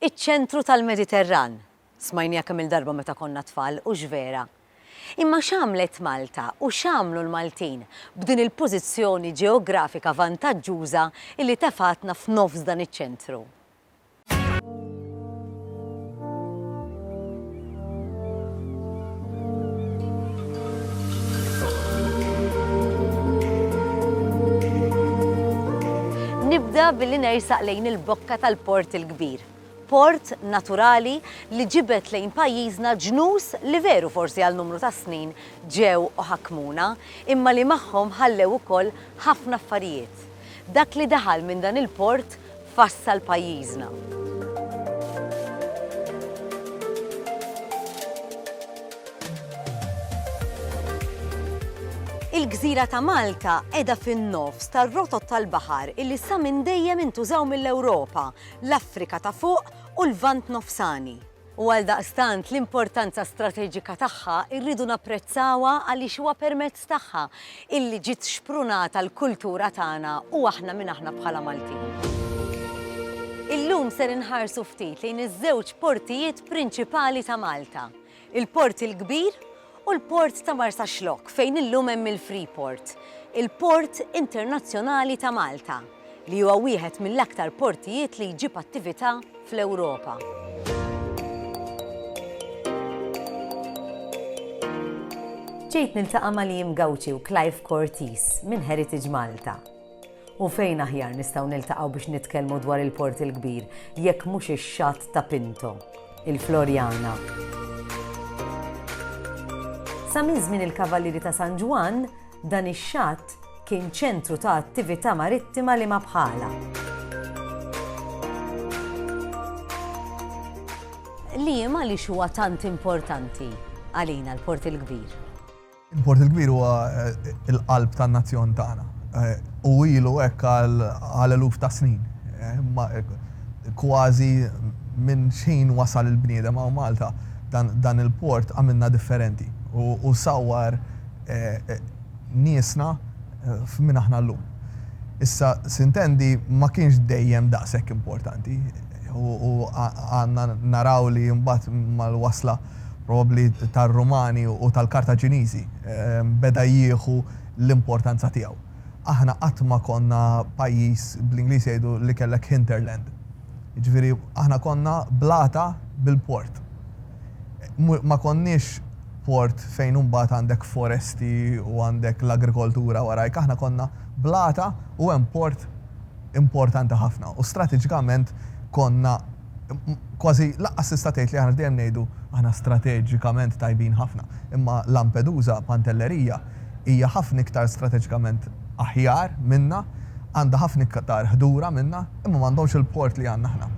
Iċ-ċentru tal-Mediterran, smajniha kemm-il darba meta konna tfal, hux vera? Imma x'għamlet Malta u x'għamlu l-Maltin b'din il-pożizzjoni ġeografika vantaġġuża illi tefgħatna f'nofs dan iċ-ċentru? Nibda billi nersaq lejn il-bokka tal-port il-kbir. Port naturali li ġibet lejn pajjiżna ġnus li veru forsi għal numru ta' snin ġew u ħakmuna, imma li magħhom ħallew ukoll ħafna affarijiet. Dak li daħal minn dan il-port fassal pajjiżna. Il-gżira ta' Malta qiegħda fin-nofs tar-rotot tal-baħar illi sa minn dejjem intużaw mill-Ewropa, l-Afrika ta' fuq u l-Lvant Nofsani. u għaldaqstant l-importanza strateġika tagħha rridu napprezzawha għaliex huwa permezz tagħha illi ġiet xprunata l-kultura tagħna u aħna min aħna bħala Maltin. Illum ser inħarsu ftit lejn iż-żewġ portijiet prinċipali ta' Malta, il-Port il-Kbir u l-port ta' Marsaxlokk fejn illum hemm il-Freeport, il-Port Internazzjonali ta' Malta, li huwa wieħed mill-aktar portijiet li jġib attività fl-Ewropa. Ġejt niltaqa' ma' Liam Gauci u Clive Cortis minn Heritage Malta. U fejn aħjar nistgħu niltaqgħu biex nitkellmu dwar il-Port il-Kbir jekk mhux ix-xatt ta' Pinto, il-Floriana. Sa minn żmien il-Kavallieri ta' San Ġwann, dan ix-xatt kien ċentru ta' attività marittima li ma bħalha. Liema għaliex huwa tant importanti għalina l-Port il-Kbir? Il-Port il-Kbir huwa l-qalb tan-nazzjon tagħna u ilu hekk għal eluf ta' snin. Kważi minn x'ħin wasal il-bniedem hawn Malta, dan il-port għamilna differenti u sawwar niesna f'min aħna llum. Issa s'intendi ma kienx dejjem daqshekk importanti u għandna naraw li mbagħad mal-wasla probabbli tar-Rumani u tal-Kartaġiniżi, beda jieħu l-importanza tiegħu. Aħna qatt ma konna pajjiż, bl-Ingliż jgħidu li kellek hinterland, jiġifieri aħna konna blata bil-port. Ma konniex port fejn imbagħad għandek foresti u għandek l-agrikoltura warajk, aħna konna blata u hemm port importanti ħafna u stratiġikament konna, kważi lanqas tista' tgħid li aħna dejjem ngħidu aħna strateġikament tajbin ħafna, imma Lampedusa, Pantelleria, hija ħafna iktar strateġikament aħjar minna, għandha ħafna iktar ħdura minna, imma m'għandhomx il-port li għandna aħna.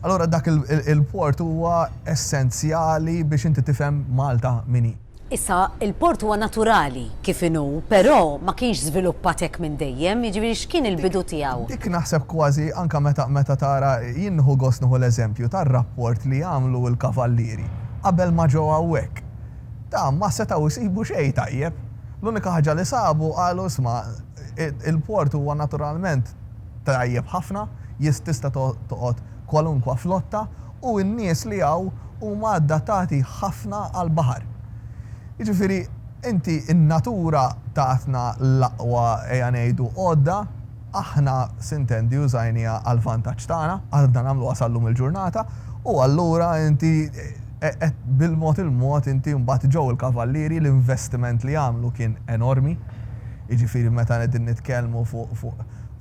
Allura dak il-port huwa essenzjali biex inti tifhem Malta min hi. Issa, il-port huwa naturali kif inhu, però ma kienx żviluppat hekk minn dejjem, jiġifieri x'kien il-bidu tiegħu? Dik naħseb kważi anke meta meta tara, jien nieħu gost nieħu l-eżempju tar-rapport li għamlu l-kavallieri qabel ma ġew hawnhekk. Ta, ma setgħu jsibu xejn tajjeb. L-unika ħaġa li sabu qalu isma' il-port huwa naturalment tajjeb ħafna, jis tista' toqgħod kwalunkwa flotta u n-nies li hawn huma addattati ħafna għall-baħar. Jiġifieri inti n-natura tatna l-aqwa ejja ngħidu għodda, aħna sintendi użajniha għall-vantaġġ tagħna, għadna nagħmluha sal-lum il-ġurnata, u allura inti qed bil-mod il-mod inti mbagħad ġew il-Kavallieri l-investiment li għamlu kien enormi, jiġifieri meta qegħdin nitkellmu fuq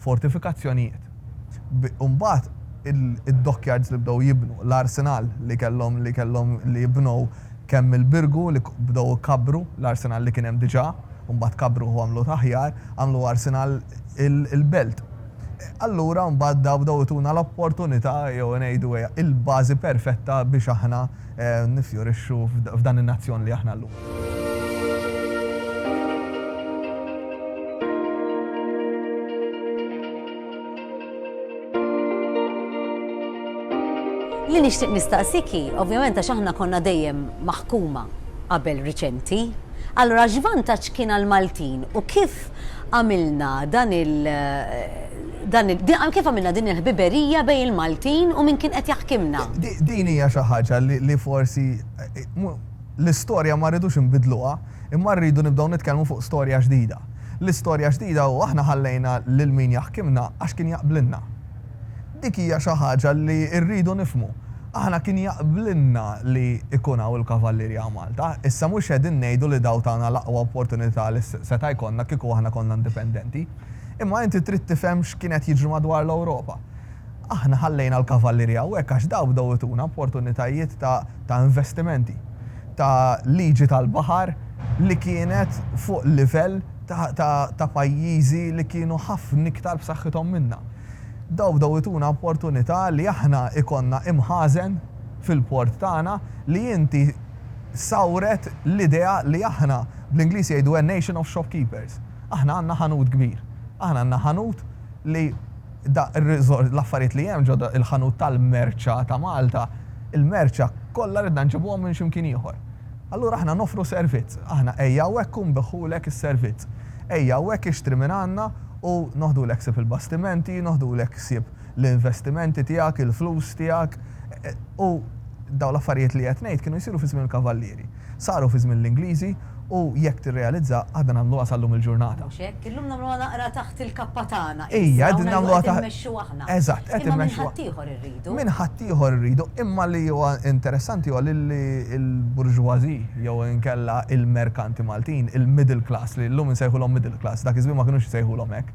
fortifikazzjonijiet. Mbagħad id-dockyards li bdew jibnu, l-arsenal li kellhom li kellhom li jibnow kemm il-Birgu li bdew ikabbru l-arsenal li kien hemm diġà u mbagħad kabbruh u għamluh aħjar, għamlu arsenal il-belt. Allura mbagħad dawn bdew ituna l-opportunità jew ngħidu il-bażi perfetta biex aħna Niffjorixxu f'dan in-nazzjon li aħna llum. Li nixtieq nistaqsik hi, ovvjament għax aħna konna dejjem maħkuma qabel riċenti, allura x'vantaġġ kien għall-Maltin u kif għamilna dan il dan il din kif għamilna din il-ħbiberija bejn il-Maltin u min kien qed jaħkimna? Din hija xi ħaġa li forsi l-istorja ma rridux inbiddluha, imma rridu nibdew nitkellmu fuq storja ġdida. L-istorja ġdida hu aħna ħallejna lil min jaħkimna għax kien jaqblilna. Dik hija xi ħaġa li rridu nifhmu. Aħna kien jaqblilna li jkun hawn il-Kavallieri hawn Malta. Issa mhux qegħdin ngħidu li dawn tawna l-aqwa opportunità li seta' jkollna kieku aħna konna indipendenti. Imma inti trid tifhem x'kien qed jiġri madwar l-Ewropa. Aħna ħallejna l-Kavallieri hawnhekk għax dawn bdew ituna opportunitajiet ta' ta' investimenti, ta' liġi tal-baħar li kienet fuq livell ta' ta' ta' pajjiżi li kienu ħafna iktar b'saħħithom minna. Dawn bdew ituna opportunità li aħna ikollna imħażen fil-port tagħna li inti sawret l-idea li aħna, bl-Ingliż jgħidu a nation of shopkeepers. Aħna għandna ħanut kbir. Aħna għandna ħanut li da r-riżor, l-affarijiet li hemm ġo il-ħanut tal-merċa ta' Malta, il-merċa kollha ridna nġibuhom minn xi mkien ieħor. Allura aħna noffru servizz. Aħna ejja hawnhekk u nbiħħulek is-servizz. Ejja hawnhekk ixtri minn għandna u noħdulek ħsieb il-bastimenti, noħdulek ħsieb l-investimenti tiegħek, il-flus tiegħek. U dawn l-affarijiet li qed ngħid kienu jsiru fi żmien il-Kavallieri. Saru fi żmien l-Ingliżi u jekk tirrealizza aħna nagħmluha sal-lum il-ġurnata. Mhux hekk? Illum nagħmluha naqra taħt il-kappa tagħna issa, hawn qegħdin nagħmluha taħt il-kappa tagħna issa, hawn qegħdin immexxuha aħna. Eżatt, qed immexxuha. Imma minn ħaddieħor irridu. minn ħaddieħor irridu, imma li huwa interessanti huwa li l-bourgeoisie jew inkella l-merkanti Maltin, il-middle class, li llum insejħulhom middle class, dak iż-żmien ma kinux isejħulhom hekk,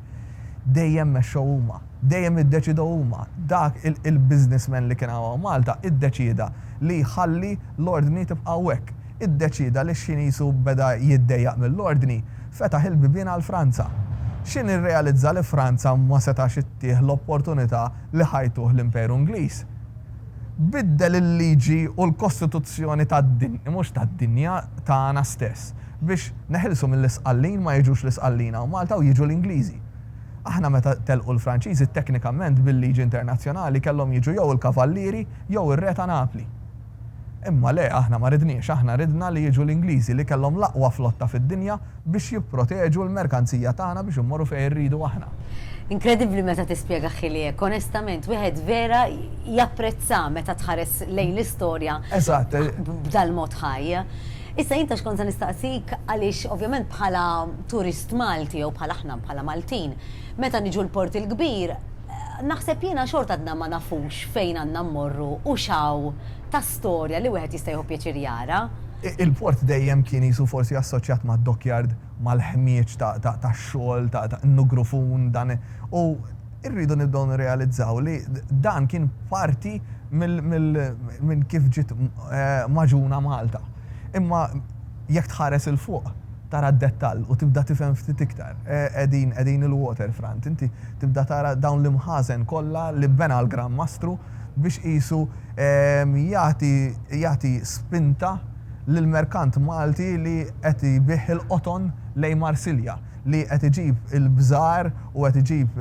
dejjem mexxew huma, dejjem iddeċidew huma. Dak il-businessman li kien hawn hawn Malta iddeċieda li jħalli l-ordni tibqa' hekk. Iddeċieda li x-Xiniż u beda jiddejjaq mill-ordni, fetaħ il-bibien għal Franza. Xini rrealizza li Franza ma setax ittih l-opportunità li ħajtuh l-Imperu Ingliż, biddel il-liġi u l-kostituzzjoni tad-dinja, mhux tad-dinja, tagħna stess, biex neħilsu mill-Isqallin ma jiġux l-Isqallin hawn Malta u jiġu l-Ingliżi. Aħna meta telqu l-Franċiżi teknikament bil-liġi internazzjonali kellhom jiġu jew il-Kavallieri jew ir-Re ta' Napli. Imma le, aħna ma ridniex, aħna ridna li jiġu l-Ingliżi li kellhom l-aqwa flotta fid-dinja, biex jipproteġu l-merkanzija tagħna biex immorru fejn irridu aħna. Inkredibbli meta tispjega Ħili hekk, onestament wieħed vera japprezza meta tħares lejn l-istorja b'dal-mod ħaj. Issa jien taf x'kont se nistaqsik għaliex ovvjament bħala turist Malti jew bħal aħna bħala Maltin meta niġu l-Port il-Kbir, Naħseb jiena xorta għadna ma nafux fejn għandna mmorru u x'hawn ta' storja li wieħed jista' jieħu pjaċir jara. Il-port dejjem kien qisu forsi assoċjat mad-dockyard, mal-ħmieġ tax-xogħol, n-nugrufun, dan u rridu nibdew nirrealizzaw li dan kien parti minn kif ġiet magħġuna Malta. Imma jekk tħares 'il fuq, tara d-dettall u tibda tifhem ftit iktar. Qegħdin, qegħdin il-waterfront, inti tibda tara dawn l-imħażen kollha li bena l-Gran Mastru biex qisu jagħti, jagħti spinta lill-merkant Malti li qed ibigħ il-qoton lejn Marsilja, li qed iġib il-bżar u qed iġib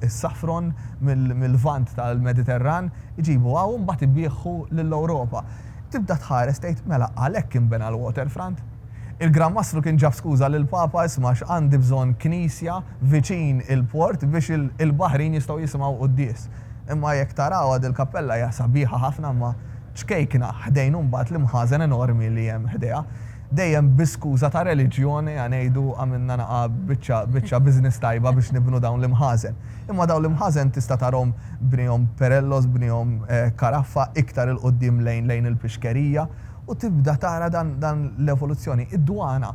is-saffron mill-Lvant tal-Mediterran, iġibu hawn u mbagħad ibiegħu lill-Ewropa. Tibda tħares tgħid, mela għalhekk inbena l-waterfront? Il-Gran Mastru kien ġab skuża lill-Papa, isma' għax għandi bżonn knisja viċin il-port biex il-baħrin jistgħu jisimgħu quddies. Imma jekk tarawha dil-kappella hija sabiħa ħafna imma ċkejkna ħdejn u mbagħad l-imħażen enormi li hemm ħdejha. Dejjem bi skuża ta' reliġjon ejja ngħidu għamilna naqa' biċċa biċċa business tajba biex nibnu dawn l-imħażen. Imma dawn l-imħażen tista' tarahom bniehom Perellos, bniehom Caraffa iktar 'il quddiem lejn lejn il-Pixkerija U tibda tara dan l-evoluzzjoni. Id-dwana,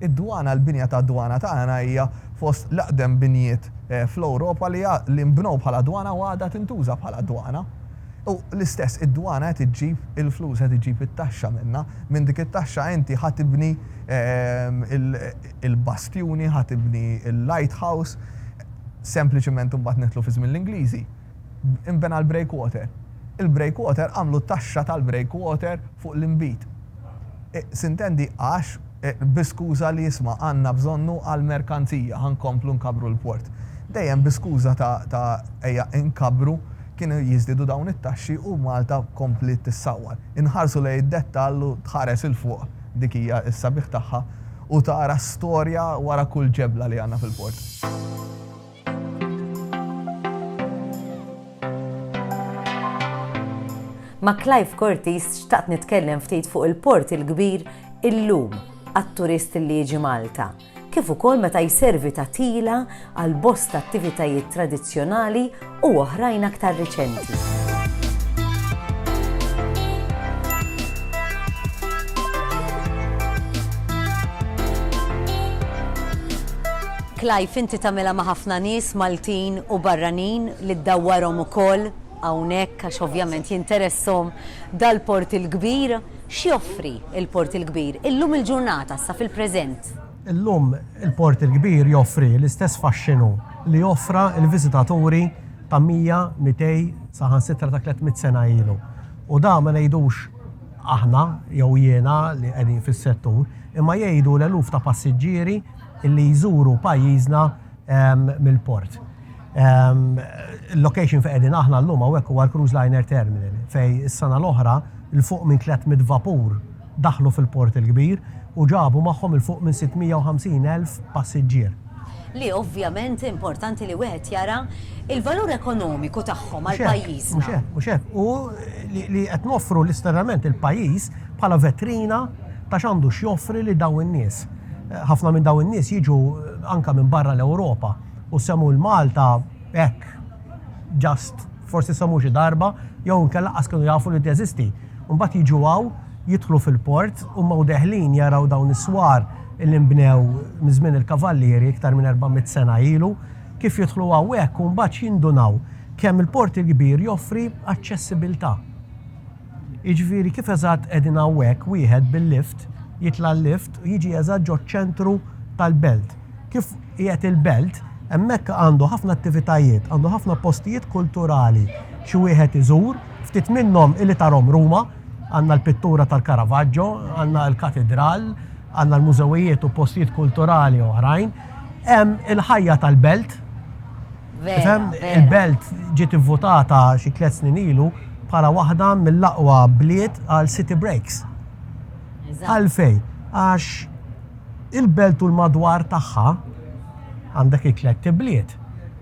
id-dwana, l-binja tad-dwana tagħna hija fost l-eqdem binjiet fl-Ewropa li nbnew bħala dwana u għadha tintuża bħala dwana. U l-istess, id-dwana qed iġġib il-flus, qed iġġib it-taxxa minnha. Minn dik it-taxxa inti ħa tibni l-bastjuni, ħa tibni l-lighthouse, sempliċement imbagħad nidħlu fi żmien l-Ingliżi. inbena l-breakwater. Il-breakwater għamlu t-taxxa tal-breakwater fuq l-inbid. Sintendi għax, bi skuża li isma' għandna bżonnu għall-merkanzija, ħa nkomplu nkabbru l-port. Dejjem bi skuża ta' ta' ejja nkabbru, kienu jiżdiedu dawn it-taxxi u Malta kompliet tissawwar. Inħarsu lejn id-dettall u tħares 'il fuq, dik hija s-sabiħ tagħha, u tara storja wara kull ġebla li għandna fil-port. Ma' Clive Cortis xtaqt nitkellem ftit fuq il-Port il-Kbir illum għat-turist li jiġi Malta, kif ukoll meta jservi ta' tila għal bosta attivitajiet tradizzjonali u oħrajn aktar riċenti. Clive inti tagħmilha ma' ħafna nies Maltin u barranin li ddawwarhom ukoll hawnhekk għax ovvjament jinteressahom dal-port il-kbir. X'joffri l-port il-kbir illum il-ġurnata issa fil-preżent? Illum il-port il-kbir joffri l-istess faxxinu li offra l-viżitaturi ta' 100, 200 saħansitra ta' 300 sena ilu. U dan ma ngħidux aħna jew jiena li qegħdin fis-settur imma jgħidu l-eluf ta' passiġġieri, li jżuru pajjiżna mill-port. Il-location fejn qegħdin aħna llum hawnhekk huwa l-Cruise Liner Terminal fejn is-sena l-oħra 'l fuq minn 300 vapur daħlu fil-port il-kbir u ġabu magħhom 'l fuq minn 650,000 passiġġier. Li ovvjament importanti li wieħed jara l-valur ekonomiku tagħhom għal pajjiżna. Mhux hekk, mhux hekk. U li qed noffru l-isternament lill-pajjiż bħala vetrina ta' x'għandu x'joffri lil dawn in-nies. Ħafna minn dawn in-nies jiġu anke minn barra l-Ewropa u semgħu l-Malta hekk just forsi semgħu xi darba jew inkella lanqas kienu jafu li teżisti. U mbagħad jiġu hawn, jidħlu fil-port, huma u deħlin jaraw dawn is-swar li nbnew minn żmien il-Kavallieri iktar minn 400 sena ilu, kif jidħlu hawnhekk u mbagħad jindunaw kemm il-Port il-Kbir joffri aċċessibilità. Jiġifieri kif eżatt qegħdin hawnhekk wieħed bil-lift jitla' l-lift u jiġi eżatt ġoċ-ċentru tal-belt. Kif qiegħed il-belt, hemmhekk għandu ħafna attivitajiet, għandu ħafna postijiet kulturali xi wieħed iżur, ftit minnhom illi tarhom Ruma, għandna l-pittura tal-Caravaggio, għandna l-katidral, għandna l-mużewijiet u postijiet kulturali oħrajn. Hemm il-ħajja tal-belt. Tifhem, il-Belt ġiet ivvutata xi tliet snin ilu bħala waħda mill-aqwa bliet għal city breaks. Għalfejn? Għax il-Belt u l-madwar tagħha għandek it-tliet ibliet,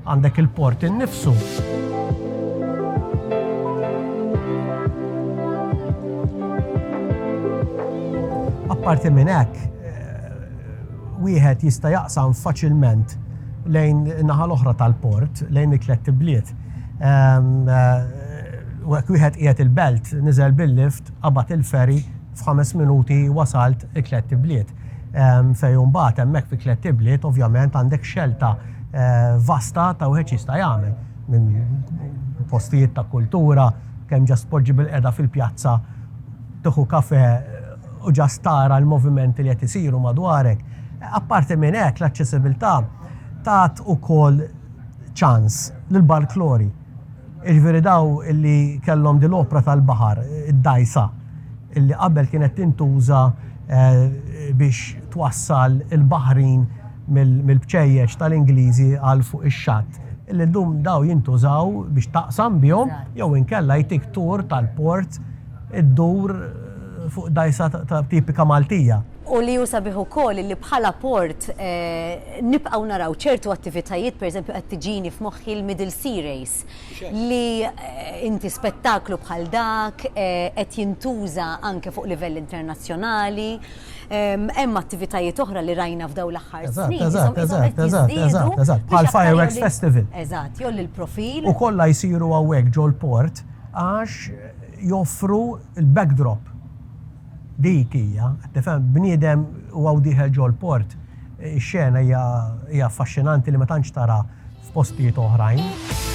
għandek il-port innifsu. Apparti minn hekk, wieħed jista' jaqsam faċilment lejn in-naħa l-oħra tal-port, lejn it-tlett ibliet. U hekk wieħed qiegħed il-belt, niżel bil-lift, qabad il-ferry, f'ħames minuti wasalt it-tlett ibliet. Fejn imbagħad hemmhekk fit-tlett ibliet ovvjament għandek xelta vasta ta' wieħed x'jista' jagħmel. Minn postijiet ta' kultura, kemm ġast tpoġġi bilqiegħda fil-pjazza, tieħu kafè, u just tara l-movimenti li qed isiru madwarek. Apparti minn hekk, l-aċċessibilità tat ukoll ċans lill-barklori. Jiġifieri daw li kellhom din l-opra tal-baħar, id-dgħajsa, li qabel kienet tintuża biex twassal il-baħrin mill-bċejjeċ tal-Ingliżi għal fuq ix-xatt, illum daw jintużaw biex taqsam bihom jew inkella jtik tour tal-port. iddur fuq dgħajsa tipika Maltija. U li hu sabiħ ukoll li bħala port nibqgħu naraw ċertu attivitajiet, pereżempju qed tiġini f'moħħi l-Middle Sea Race li inti spettaklu bħal dak qed jintuża anke fuq livell internazzjonali. Hemm attivitajiet oħra li rajna f'dawn l-aħħar snin qishom qed jiżdiedu. Eżatt, eżatt, bħall-fireworks festival. Eżatt, jgħolli l-profil. U kollha jsiru hawnhekk ġol-port għax. joffru l-backdrop. Dik hija, qed tifhem, bniedem u hawn dieħel ġol-port. Ix-xena hija hija affaxxinanti li ma tantx tara f'postijiet oħrajn.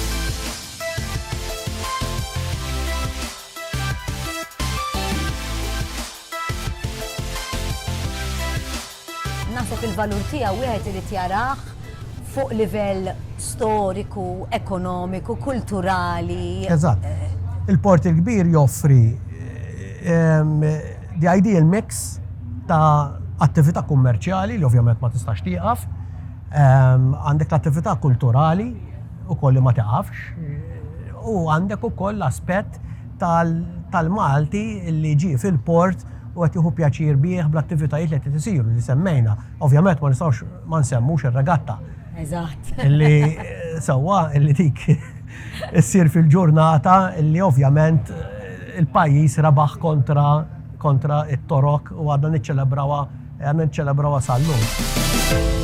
Naħseb il-valur tiegħu wieħed irid jarah fuq livell storiku, ekonomiku, kulturali. Eżatt. Il-Port il-Kbir joffri the ideal mix ta' attività kummerċjali li ovvjament ma tistax tieqaf, għandek l-attività kulturali ukoll li ma tiqafx, u għandek ukoll l-aspett tal-Malti li ġie fil-port, u qed jieħu pjaċir bih bl-attivitajiet li qed isiru li semmejna. Ovvjament ma nistgħux ma nsemmux ir-regatta. Eżatt. Li sewwa li dik issir fil-ġurnata li ovvjament il-pajjiż rebaħ kontra kontra it-Torok u għadna niċċelebrawha għadna niċċelebrawha sal-lum.